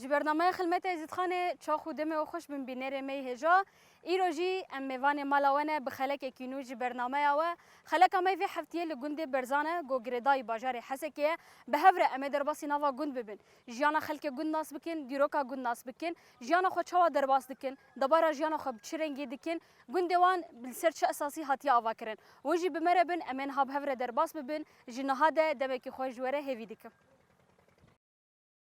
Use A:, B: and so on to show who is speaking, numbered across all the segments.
A: Ji bernameya Xilmeta Êzidxanê çax û demê xweş bin bînerê me yê hêja. Îro jî em mêvanê mala we ne bi xelekekî nû ji bernameya we. Xeleka me vê heftiyê li gundê Berzan e ku girêdayî bajarê Hesekê ye. Bi hev re em ê derbasî nava gund bibin. Jiyana xelkê gund nas bikin, dîroka gund nas bikin, jiyana xwe çawa derbas dikin, debara jiyana xwe bi çi rengî dikin, gundê wan li ser çi esasî hatiye avakirin. Wan jî bi me re bin em ê niha bi hev re derbas bibin. Ji niha de demekî xwe ji we re hêvî dikim.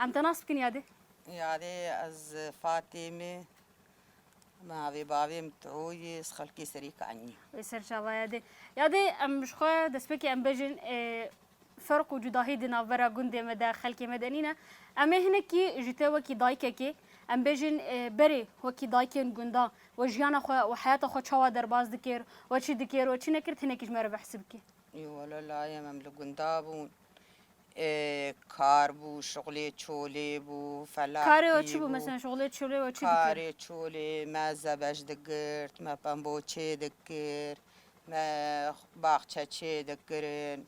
A: Em te nas bikin yadê. Yadê
B: ez Fatîm e. Navê bavê min Tû ye. Ez xelkê Serî Kanî. Wê ser çava yadê.
A: Yadê em ji xwe destpêkê em bejin ferq û cudahî di navbera gundê me de xelkê me de nîne. Em ê hinekî ji te wekî dayikekê em bêjin berê wekî dayikên gundan we jiyana xwe û heyata xwe çawa derbas dikir we çi dikir we çi nekir hinekî ji me re behs bikî. Wele
B: layê me em li gunda bûn Kar bû, şixulê çolê bû, felaxî bû. Karê we çi bû? Mesela
A: şixulê çolê we çi dikir? Karê çolê
B: me zebej digirt, me pemboçê dikir, me baxçe çê dikirin,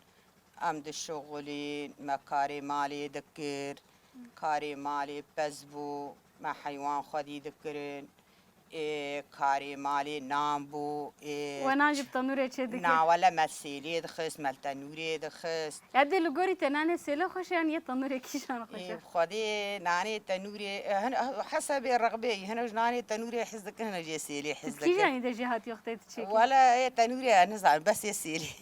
B: em dişixulîn, me karê malê dikir. Karê malê pez bû, me heywan xwedî dikirin. Ê karê malê nan bû. Ê. We nan ji bi
A: tenûrê çê dikir? Na wele me sêlê
B: dixist, me li tenûrê dixist. Ya dê li gorî te
A: nanê sêlê xweş e yan yê tenûrê kîjan xweş e? Ê bi xwedê nanê
B: tenûrê hin hesebê rexbeyî hin e ji nanê tenûrê hez dikin hin e jê sêlê hez dikin. Kîjanî de jê hatiye
A: xwedê tu çê kir? Wele ê tenûrê
B: nizanim besê sêlê.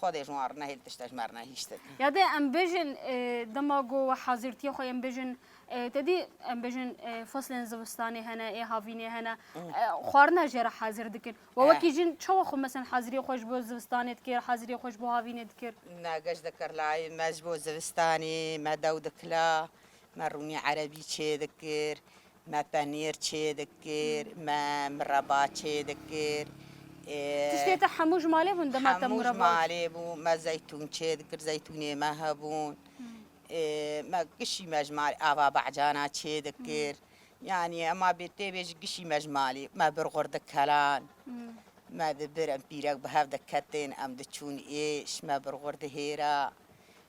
B: Xwedê ji wan re nehêl tişt ez ji me re nehîştin. Ya de em bêjin
A: dema ku we hazirtiyê xwe yên bêjin te dî em bêjin feslên zivistanê hene ê havînê hene xwarina jê re hazir dikin. We wekî jin çawa xwe mesen haziriyê xwe ji bo zivistanê dikir haziriyê xwe ji bo havînê dikir? Na geş dikir
B: layê me ji bo zivistanê me dew dikila me rûnî erebî çêdikir. Me penîr çê dikir, me mireba çê dikir. Tiştê
A: te hemû ji malê bûn dema te mireba? Hemû ji malê bû.
B: Me zeytûn çê dikir, zeytûnê me hebûn. Me kişî me ji malê ava behcana çê dikir. Yanî ema bê tê bê jî kişî me ji malê. Me bir xurdik kelan. Me di bir em pîrek bi hev diketin em diçûn êş. Me bir xurdi hêra.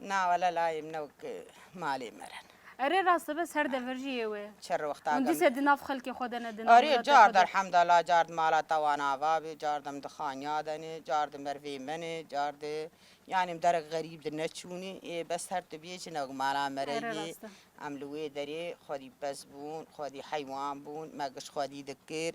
B: Na wele
A: layê
B: min e wek
A: malê me
B: re ne. Erê
A: rast e bes her dever jî yê wê. Çi rewexta gam. Hûn dîse
B: di nav xelkê
A: xwe de ne di nav welatê xwe de. Erê card elhemdallah
B: car di mala te wan ava bê car dem di xaniya de ne car di mervê me ne car di yanî em derek xerîb di neçûnê ê bes her tu biyê çi ne wek mala me re yê. Em li wê derê xwedî pez bûn xwedî heywan bûn me giş xwedî dikir.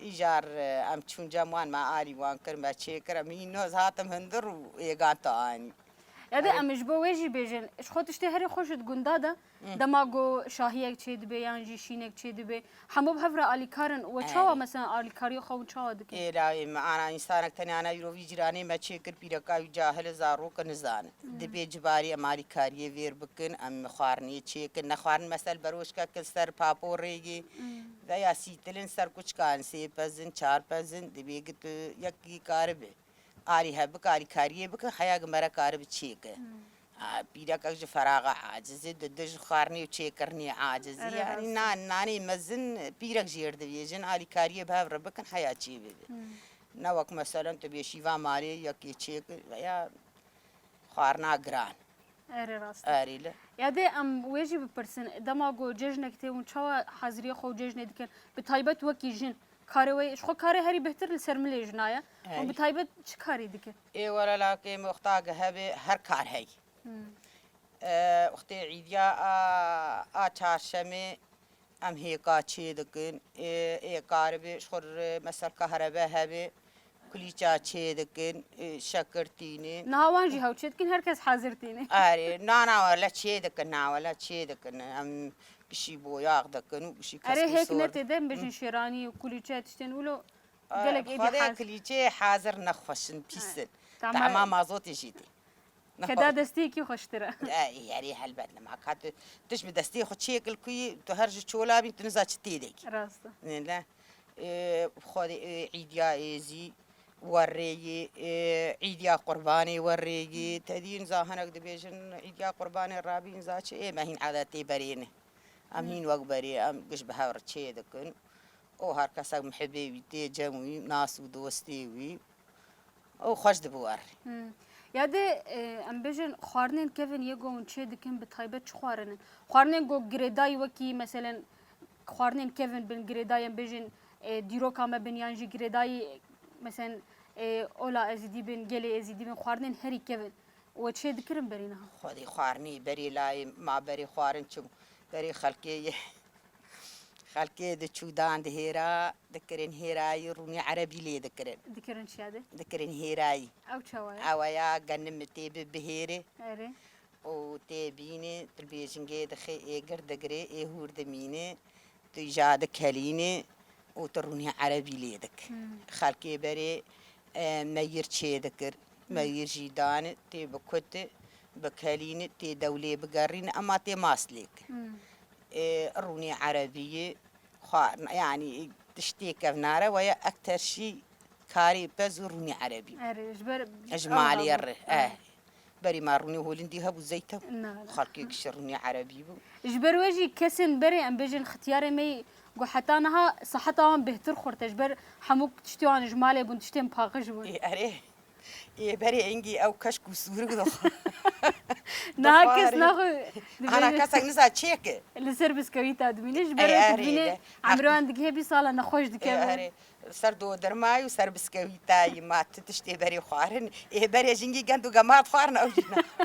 B: Îcar em çûn cem wan me alî wan kir me çêkir em hînoz hatim hundir û êgan te anî. Ya de em ji
A: bo wê jî bêjin ji xwe tiştê herî xweş ji di gunda de dema ku şahiyek çêdibê yan jî şînek çêdibê hemû bi hev re alîkar in we çawa mesela alîkariyê xwe hûn çawa dikin? Êrayê me ana
B: însanek tenê ana îro vî cîranê me çêkir pîreka wî cahil e zarok e nizanin. Dibê cibarî em alîkariyê vêr bikin em xwarinê çêkin nexwarin mesel beroşkek in ser papo rêgê Veya sîtilin ser kuçkan sê pezin çar pezin dibê ki tu yekî karibi arî hev bike arî kariyê bike heya ki mere karibi çêke pîrekek ji feraxa acizê di di ji xwarinê û çêkirinê acizî yanî na nanê mezin pîrek jêr dibêjin alî kariyê bi hev re bikin heya çê bibe ne wek meselen tu bê şîva malê yekê çêkir veya xwarina giran
A: Erê rast e. Erê li. Ya dê
B: em wê jî
A: bipirsin dema ku cejnek tê hûn çawa haziriyê xwe û cejnê dikin bi taybet wekî jin karê wê ji xwe karê herî bihtir li ser milê jina ye û bi taybet çi karî dikin? Ê were lakê
B: min wexta ge hebe her kar hey. Wextê îdiya a a çarşemê Em hêka çê dikin, ê karibê ji xwe re mesela kahrebe hebe kulîça çê dikin, şekir tîne. Niha wan jî hew çê
A: dikin, her kes hezir tîne. Erê, na na
B: wele çê dikin, na wele çê dikin. Em pişî boyax dikin û pişî keskê sor dikin. Erê hêk ne tê de bêjin
A: şêranî û kulîçe tiştên wilo gelek êdî hezir. Xwedê kulîçeyê hezir
B: ne xweş in, pîs in. Tahma mazotê jî tê.
A: Ke da destiyekî xweştir e. Erê helbet
B: li ma ka tu tu ji bi destê xwe çiyek li ku yî tu her ji çola bî tu niza çi tê de kî. Rast e. Nê le xwedê îdîya êzî werrê yî îdîya qurbanê werrê yî te dî niza hinek dibêjin îdîya qurbanê rabî niza çi ê me hîn edetê berê ne. Em hîn wek berê em giş bi hev re çê dikin û her kesek mihibê wî tê cem wî nas û dostê wî. û xweş dibû war. Ya
A: dê em bêjin xwarinên kevin yê gon çê dikin bi taybet çi xwarin in? Xwarinên ku girêdayî wekî meselen xwarinên kevin bin girêdayî em bêjin dîroka me bin yan jî girêdayî meselen ola Êzîdî bin, gelê Êzîdî bin xwarinên herî kevin we çê dikirin berî niha? Xwedî xwarinî
B: berî layê ma berî xwarin çû berî xelkê yê Xelkê di çûdan di hêra dikirin hêrayî rûnî erebî lê dikirin. Dikirin çiya
A: de? Dikirin hêrayî.
B: Ew çawa ye? Ew
A: ya genim mi
B: tê bi bihêrê. Erê.
A: Û tê
B: bînê tu bêjingê dixê ê gir digirê ê hûr dimînê tu îja dikelînê û tu rûnî erebî lê dik. Xelkê berê meyir çê dikir. Meyir jî dan tê bikut bikelîn tê dewlê bigerîn ema tê mas lêk. Rûnê erebîyî xwarin yanî tiştê kevnare weye ekter şî karî pez û rûnê erebî ji malê re eh berê ma rûnê holindî hebû zeyte xelkê kişe rûnê erebî bû. Ji ber we jî kesên
A: berê em bêjin xityarê me yî ku heta niha siheta wan bêhtir xurt e ji ber hemû tiştê wan ji malê bûn tiştên paqij bûn. Erê
B: Yê berê engî ew keşk û sûrik dixwe.
A: Niha kes naxwe Hana kesek
B: niza çêk e. Li ser biskewî ta
A: dimîne ji ber wê dimîne emroyan digihe bîst sala nexweş dikeve. Ser dodirmayî
B: û ser biskewî tayî ma tu tiştê berê xwarin. Yê berê jingî gend û gema dixwarin ew jî naxwe.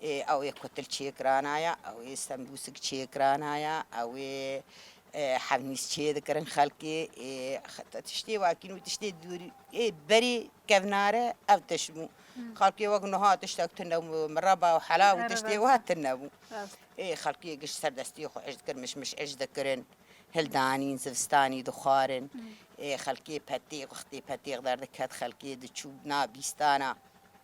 B: Ew ê kutil çêkirana ya, ew ê stembûsik çêkirana ya, ew ê hevnîs çêdikirin xelkê. Heta tiştê wakîn û tiştê dûr ê berî kevnare ev tişt bû. Xelkê wek nuha tiştek tune bû, mireba û hela û tiştê wiha tune bû. Ê xelkê giş serdestiyê xwe êş dikirin, mişmiş êş dikirin, hildanîn, zivistanî dixwarin. Ê xelkê petêx, wextê petêx derdikhet xelkê diçû na bîstana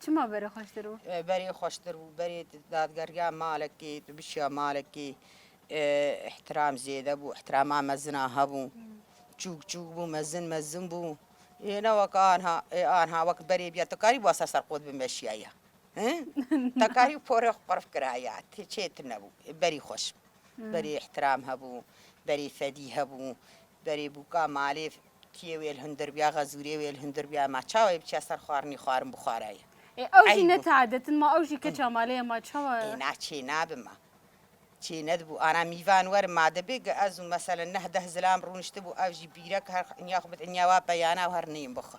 B: Çima
A: berê xweştir bû? Berê xweştir bû,
B: berê dadgergeha malekê, tu bişiya malekê îhtiram zêde bû, îhtirama mezina hebû. Çûk çûk bû, mezin mezin bû. Ê ne weke anha, ê anha wek berê biya tu karî wasa ser qod bimeşiya ya. Te karî porê xwe qirf kira ya, tê çê tu nebû. Berî xweş bû. Berê îhtiram hebû, berê fedî hebû, berê bûka malê Kiyê wê li hundir biya, xezûrê wê li hundir biya, ma ça wê biçiya ser xwarinê xwarin bixwara ye. Ê ew jî ne
A: teadet in, ma ew jî keça malê ye, ma çawa. Ê na çê nabe
B: ma. Çê nedibû ana mîvan werin ma dibê ke ez û meselen neh deh zilam rûniştibû ew jî bîrek her inya xwe bid inya wa peyana û her neyên bixwe.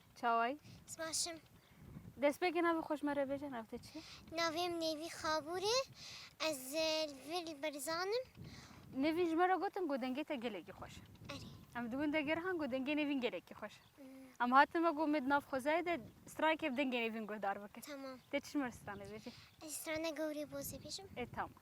C: Çaway.
A: Sbaşım.
C: Destpêkê
A: navê xweş me re bêje nav te çi? Navêm Nêvî
C: Xabûrê. Ez e, li vir li Berzan im. Nêvîn ji
A: me re gotin ku dengê te gelekî xweş e. Erê. Em di gundê
C: gerihan
A: ku dengê Nêvîn gelekî xweş e. Hmm. Em hatin me ku me di nav xwezayê de stranekê bi dengê Nêvîn guhdar bikin. Tamam. Te çi ji me re
C: stranê bêjî?
A: Ez strana Gowrê
C: Bozê bêjim. Ê tamam.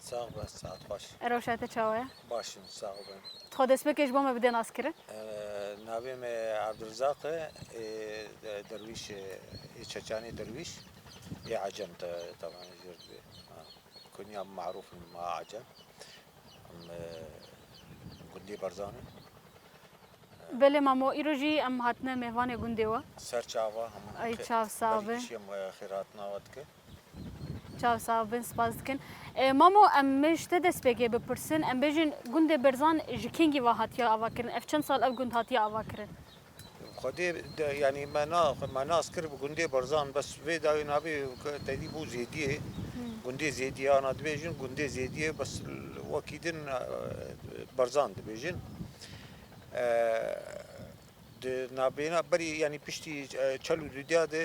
D: Sağ
A: be, saat
D: xweş. Rewşa te çawa ye?
A: Baş im, sağ ol
D: ben. Di xwe dest bikê ji bo me
A: bidê naskirin. Navê
D: me Abdulrizaq e, ê derwîş e, ê çeçanê derwîş, ê ecem te taban e jêr dibê. Kunya min marûf in ma ecem. Em gundê Barzan in.
A: Belê mamo îro jî em hatine mêvanê gundê we. Serçava hemû.
D: Ay çav sağ be.
A: Berî kişî em xêr hatina
D: we dikin. Çav
A: sav bin spas dikin. Mamo em me ji te destpêkê bipirsin em bêjin gundê Berzan ji kengî ve hatiye avakirin? Ev çend sal ev gund hatiye avakirin? Xwedê
D: yanî me na me nas kir bi gundê Berzan bes vê dawî nabî tevî bû zêdiyê gundê zêdiyê ana dibêjin gundê zêdiyê bes wekî din Berzan dibêjin. Di navbeyna berî yanî piştî çel û dudya de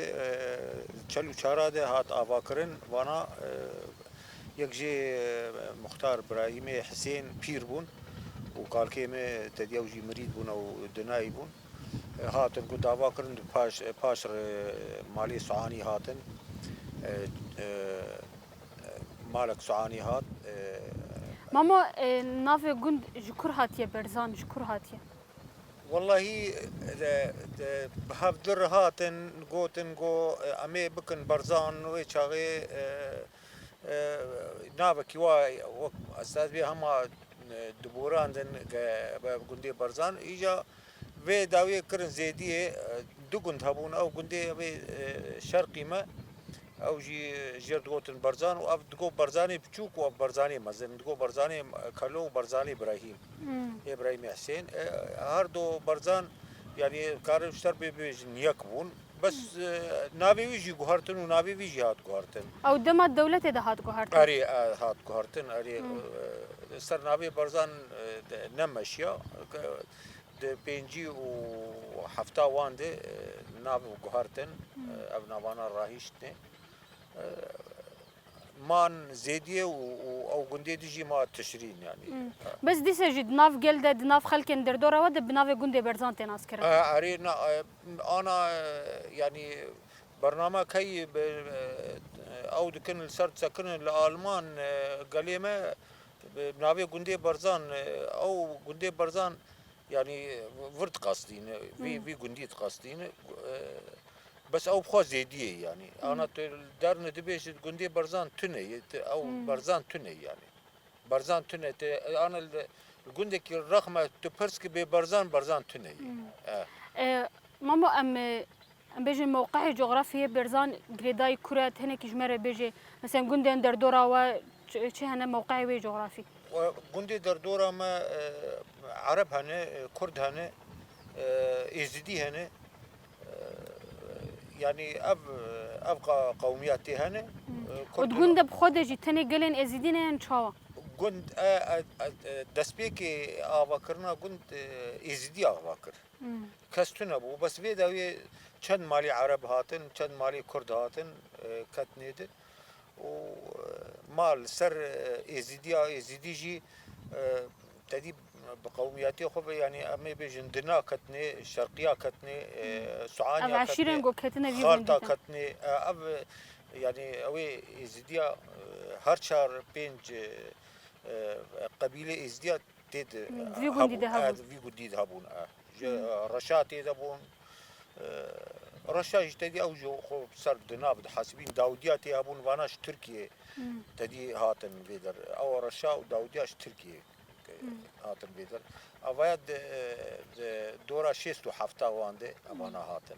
D: çel û çara de hat avakirin vana yek jê Muxtar Birahîmê Hisên pîr bûn û kalkê me tediya û jî mirîd bûn ew dunayî bûn. Hatin ku dava kirin di paş paş re malê Suanî hatin malek Suanî hat.
A: Mama navê gund ji kur hatiye berzan ji kur hatiye? Wellahî
D: bi hevdû re hatin gotin ku em ê bikin Barzan wê çaxê navekî wa wek estad bê hema diborandin bi gundê Barzan. Îja vê dawiyê kirin zêdiyê du gund hebûn ew gundê yê şerqî me. Ew jî ji yer digotin Barzan û ev digot Barzanê biçûk û ev Barzanê mezin. Digot Barzanê Kalo û Barzanê Îbrahîm ê Îbrahîmê Hesên. Her do Barzan yanî karin ji ser bibêjin yek bûn. Bes navê wî jî guhertin û navê wî jî hat guhertin. Ew dema dewletê
A: de hat guhertin? Erê hat
D: guhertin. Erê li ser navê Barzan ne meşiya. Di pêncî û hefta wan de nav guhertin, ev navana rahîştine. Man zêdiye û ew gundê de jî ma tişrîn yanî. Biz dîse jî di
A: nav gel de, di nav xelkên derdora we de bi navê gundê Berzan tê naskirin. Erê
D: ana yanî bername keyî ew dikin li ser sekinên li Alman gelê me Bi navê gundê Barzan ew gundê Barzan yanî vir diqastîn vî vî gundî diqastîn bes ew xwe zêdiyê yanî ana tu derne dibêjî gundê Barzan tune ye tu ew Barzan tune yanî Barzan tune te ana li gundekî rexme tu pirs ki bê Barzan Barzan tune ye.
A: Mama em Em bêjin mewqehê cografiyê Bêrzan girêdayî kur e tenekî ji me re bêjê meselen gundên derdora we çi hene mewqehê wê cografî? Gundê
D: derdora me Ereb hene, Kurd hene, Êzidî hene yanî ev ev qewmiya tê hene. Û di gunde
A: bi xwe de jî tenê gelên Êzidî ne yan çawa? Gund
D: destpêkê avakirina gund Êzidî ava kir. Kes tune bû bes vê dawiyê çend malê ereb hatin, çend malê kurd hatin ketinê di û ma li ser êzîdiya êzîdî jî tedî bi qewmiyetê xwe ve yanî em ê bêjin dina ketinê, şerqiya ketinê, suaniya ketinê,
A: xalta ketinê
D: ev yanî ew ê êzîdiya her çar pênc qebîlê êzîdiya Tê de Vî gundî de
A: hebûn. hebûn. Vî gundî
D: de hebûn. e. Ji reşa tê de bûn. E, Reşa jî tedî ew ji xwe bi ser di nav di hesibîn Dawdiya tê hebûn vana ji Tirkiyê tedî hatin vê der. Ew reşa û Dawdiya ji Tirkiyê e, hatin vê der. Evaya di, e, di dora şêst û hefta wan de evana hatin.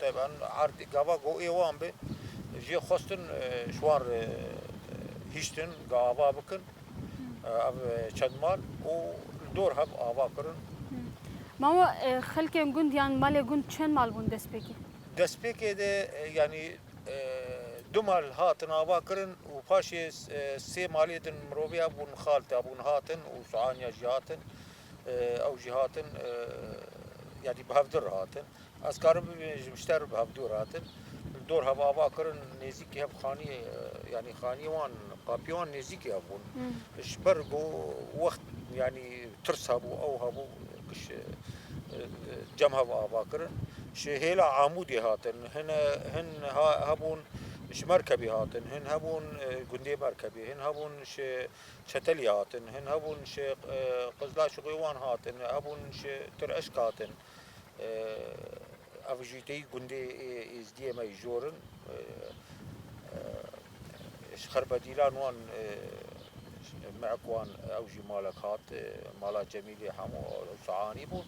D: Tevan erdê gava ku êwan be jê xwestin ji wan re hiştin ga ava bikin ev çend mal û li dor hev ava kirin. Mama
A: xelkên gund yan malê gund çend mal bûn destpêkê? Destpêkê de
D: yanî du mal hatin ava kirin û paşê sê malê din miroviya bûn xalta bûn hatin û Suanya jî hatin ew jî hatin yanî bi hevdî re hatin. Ez karim bibînim ji mişter re bi hev dor hatin. Li dor hev ava kirin nêzîkî hev xaniyê yanî xaniyê wan qapiyê wan nêzîkî hev bûn. Ji ber ku wext yanî tirs hebû ew hebû kiş cem hev ava kirin. Ji hêla Amûdê hatin. Hin hin hebûn ji Merkebê hatin. Hin hebûn gundê Merkebê. Hin hebûn ji Çetelê hatin. Hin hebûn ji Qizlaçixê wan hatin. Hebûn ji Tireşk hatin. Ev jî têyî gundê Êzdiyê me yî jor in. Ji xerbedîlan wan mehk wan ew jî malek hat. Mala Cemîlê hemû sihanî bûn.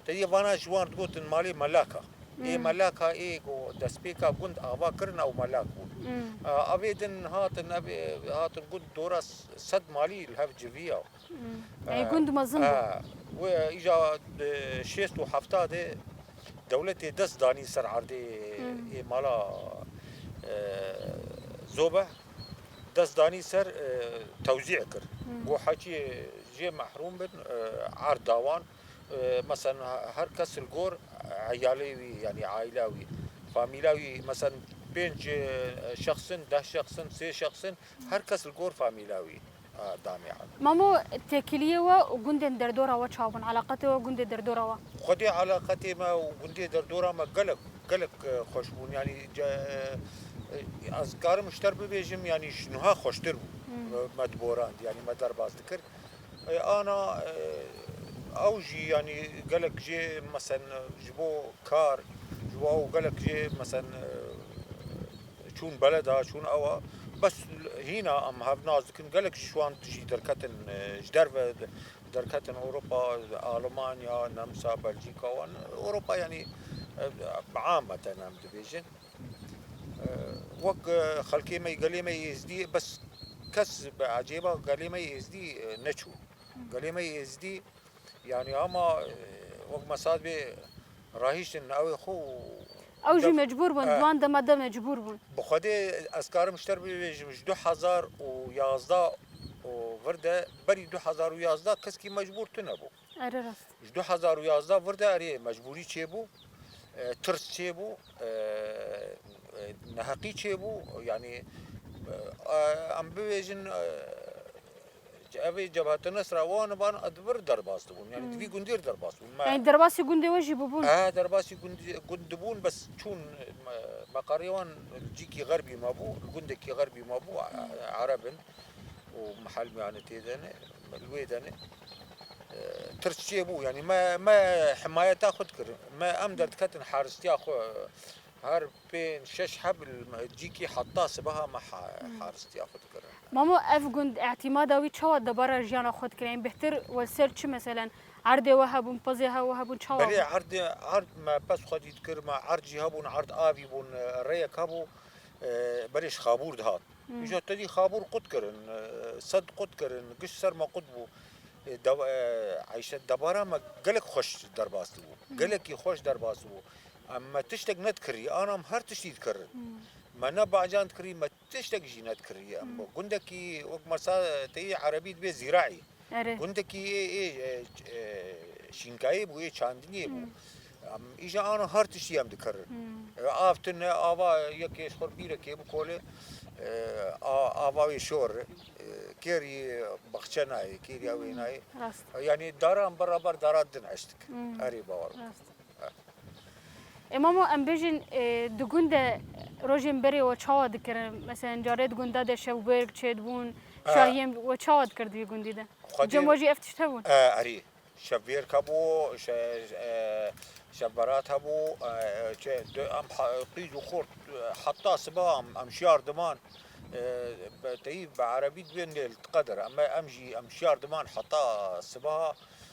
D: Têyî vana ji wan digotin malê Melaka. Ê Melaka ê ku destpêka gund ava kirin ew Melak bûn. Avê din hatin hatin gund dora sed malî li hev civiya. Eyê gund
A: mezin bû. Wê îja
D: di şêst û hefta de dewletê dest danî ser erdê ê mala Zobe dest danî ser tewzî kir û hekî jê mehrûm bin erd da wan. Meselen her kes li gor eyalê wî yanî aîla wî famîla wî meselen pênc şexs in, deh şexs in, sê şexs in her kes li gor famîla wî. Mamo,
A: tekiliyê we û gundên derdora we çawa bûn? Eleqetê we gundê derdora we? Xwedê eleqetê
D: me û gundê derdora me gelek gelek xweş bûn. Yanî ez dikarim ji te bibêjim yanî ji niha xweştir bû. Me diborand yanî me derbas dikir. Ana ew jî yanî gelek jê mesen ji bo kar ji bo ew gelek jê mesen Çûn beleda, çûn ewa. Bes hîna em hev nas dikin. Gelek ji wan jî derketin ji derve derketin Ewropa, Almanya, Nemsa, Belcîka wan. Ewropa yanî ameten em dibêjin. Wek xelkê me gelê me êzdî bes kes bi ecêba gelê me êzdî neçû. Gelê me êzdî Yanî hema wek Mesad bê rahiştin navê xwe û Ew jî mecbûr
A: bûn, di wan dema de mecbûr bûn. Bi Xwedê ez
D: karim ji te re bibêjim ji du hezar û yazdeh û vir de berî du hezar û yazdeh keskî mecbûr tunebû. Ere rast. Ji du
A: hezar û yazdeh
D: vir de erê mecbûrî çêbû, tirs çêbû, neheqî çêbû. Yanî em bibêjin Evê Cebhete Nesra wan van di vir derbas dibûn. Yani di vî gundê re derbas bûn. Me Yani derbasî gundê
A: we jî bûbûn? Ehe derbasî gundê
D: gund dibûn bes çûn meqarê wan li cîkî xerbî mabû, li gundekî xerbî mabû ereb in û mihal yani tê de ne li wê de ne. Tirs çêbû yani me me himayeta xwe dikirin. Me em derdiketin haristiya xwe Her pênc şeş heb li cîkî heta sibeha me haristiya xwe dikirin. Mamo ev gund
A: îtîmada wî çawa debara jiyana xwe dikire? Yên bêhtir wê ser çi meselen erdê we hebûn, pezê he we hebûn çawa bû? Belê erdê erd
D: me pez xwe dît kir me erdjî hebûn erd avî bûn rêyek hebû berê ji xabûr dihat. Îja tedî xabûr qut kirin sed qut kirin giş ser me qut bû. Eyşe debara me gelek xweş derbas dibû. Gelekî xweş derbas dibû. Em me tiştek nedikiriye, an em her tiştî dikirin. Me ne bacan dikiriye, me tiştek jî nedikiriye. Em gundekî wek masa te yê erebî dibe zîraî. Gundekî ê ê şînkayê bû, ê çandiniyê bû. Em îja an her tiştî em dikirin. Ev av tune, ava yekê ji xwe re bîrekê bikole, ava wê şor e. Kêrî baxçe nayê, kêrî ewê nayê. Yanî daran biraber dara din eşt dikin. Erê bawer bike.
A: E mamo em bêjin di gund de rojên berê we çawa dikirin? Meselen carê di gunda de şewbirg çêdibûn, şahiyên we çawa dikir di vî gundî de? Cem we jî ev tişt hebûn? Erî,
D: şevbirg hebû, şevberat hebû, em qîz û xort heta siba em şiyar diman, teyî bi erebî dibên lê li tiqe dir, em jî em şiyar diman heta siba,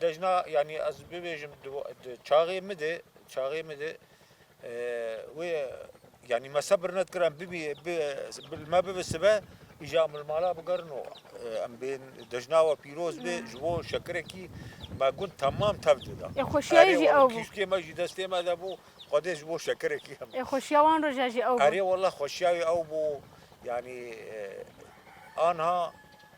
D: Dejna yanî ez bibêjim çaxê min de çaxê min de wê yanî me sebir nedkirin bibî bi me bibi sibe îja min mala bigerin û em bên dejna we pîroz bê ji bo şekirekî me gund temam tev dida. Ê xweşiya jî ew
A: bû. Kîşkê me jî destê
D: me de bû xwedê ji bo şekirekî em. Ê xweşiya wan
A: roja jî ew bû. Erê wela xweşiya wê
D: ew bû yanî anha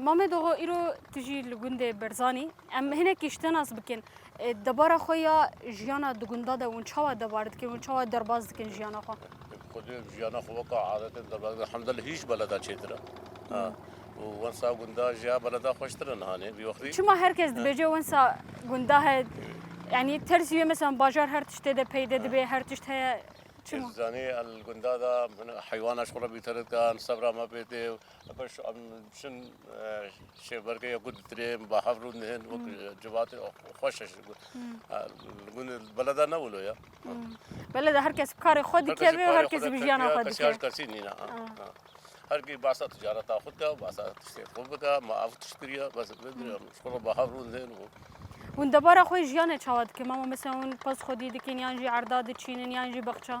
E: Mame
A: Doxo îro tu jî li gundê Berzanî em hinekî ji te nas bikin. Debara xwe ya jiyana di gunda de hûn çawa debar dikin hûn çawa derbas dikin jiyana xwe? Xwedê jiyana
E: xwe weka adetên derbas dikin. Hemde li hîş beleda çêtir e. Û wensa gunda jiya beleda xweştir e nihanê vî wextî. Çima her kes dibêje
A: wensa gunda he yanî tersî wê meselan bajar her tiştê de peyde dibe her tişt heye çima? Zanî li gunda
E: de heywana ji xwe re bîterit kan sebra me pê tê Baş em çin şêbergê ya gund dirêm ba hev rû nihin wek civatê xweş eş gu- ha, gund beleda ne wilo ya. Bele de
A: herkes bi karê xwe dike ve û herkes bi jiyana xwe Kesî her dike. kesî nîna. ha,
E: Ah. ha. Her kî basa ticareta xwe dike, basa tiştê xwe bike, ma ev tişt kiriye, bes vindiriye. Şkola ba hev rû nihin û Hûn debara
A: xwe jiyanê çawa dikin? Mama mesela hûn pez xwedî dikin yan jî erda diçînin yan jî bexça.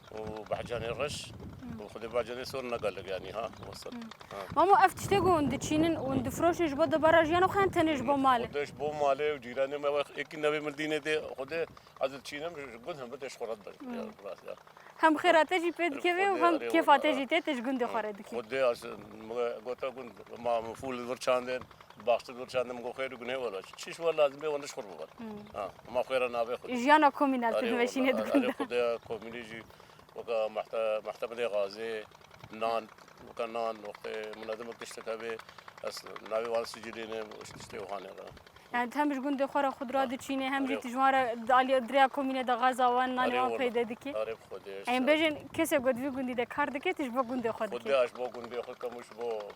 E: û behcanê reş û xwedê behcanê sor nega ligiyanî ha wasat. Mamo ev
A: tiştê ku hûn diçînin û hûn difroşin ji bo dubara jiyan û xeyan tenê ji bo malê. Xwedê ji bo malê û
E: cîranê me wex ekî nevê min dînê dê xwedê ez diçînim ji gund hembir tê ji xwe re dibin. Hem xêra
A: te jî pê dikeve û hem kêfa te jî tê te ji gundê xwe re dikî. Xwedê ez
E: gote gund ma fûl vir çandên. Baxte gur çandim go xêr û gunê wela çi çiş wela lazim bê wan diş xur bibat. Ha, ma xêra navê xur. Jiyana komîn ez didu
A: veşînê dikun. Arê xudê
E: komînê jî weka mahte mahtemedê gazê nan weka nan wextê munademek diştek hebê ez navê wan sicilê ne tiştê wihanê ra. Yani
A: tem ji gundê xwe ra xudra diçînê hem jî tijwan re alî dirêya komînê de gaza wan nanê wan peyde dikî. Arê xudê. Em
E: bêjin kesê
A: ku divî gundî de kar dike tu ji bo gundê xwe dikî. Xudê ez ji bo gundê xwe kemû
E: ji bo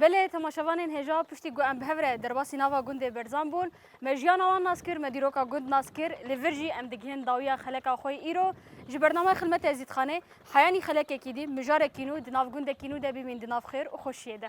A: Belê temaşevanên hêja piştî ku em bi hev re derbasî nava gundê Berzan bûn, me jiyana wan nas kir, me dîroka gund nas kir, li vir jî em digihînin dawiya xeleka xwe yê îro. Ji bernameyê Xilmet Ezîdxanê, Heyanî xelekekî dî, mijarekî nû, di nav gundekî nû de bimîn di nav xêr û xweşiyê de.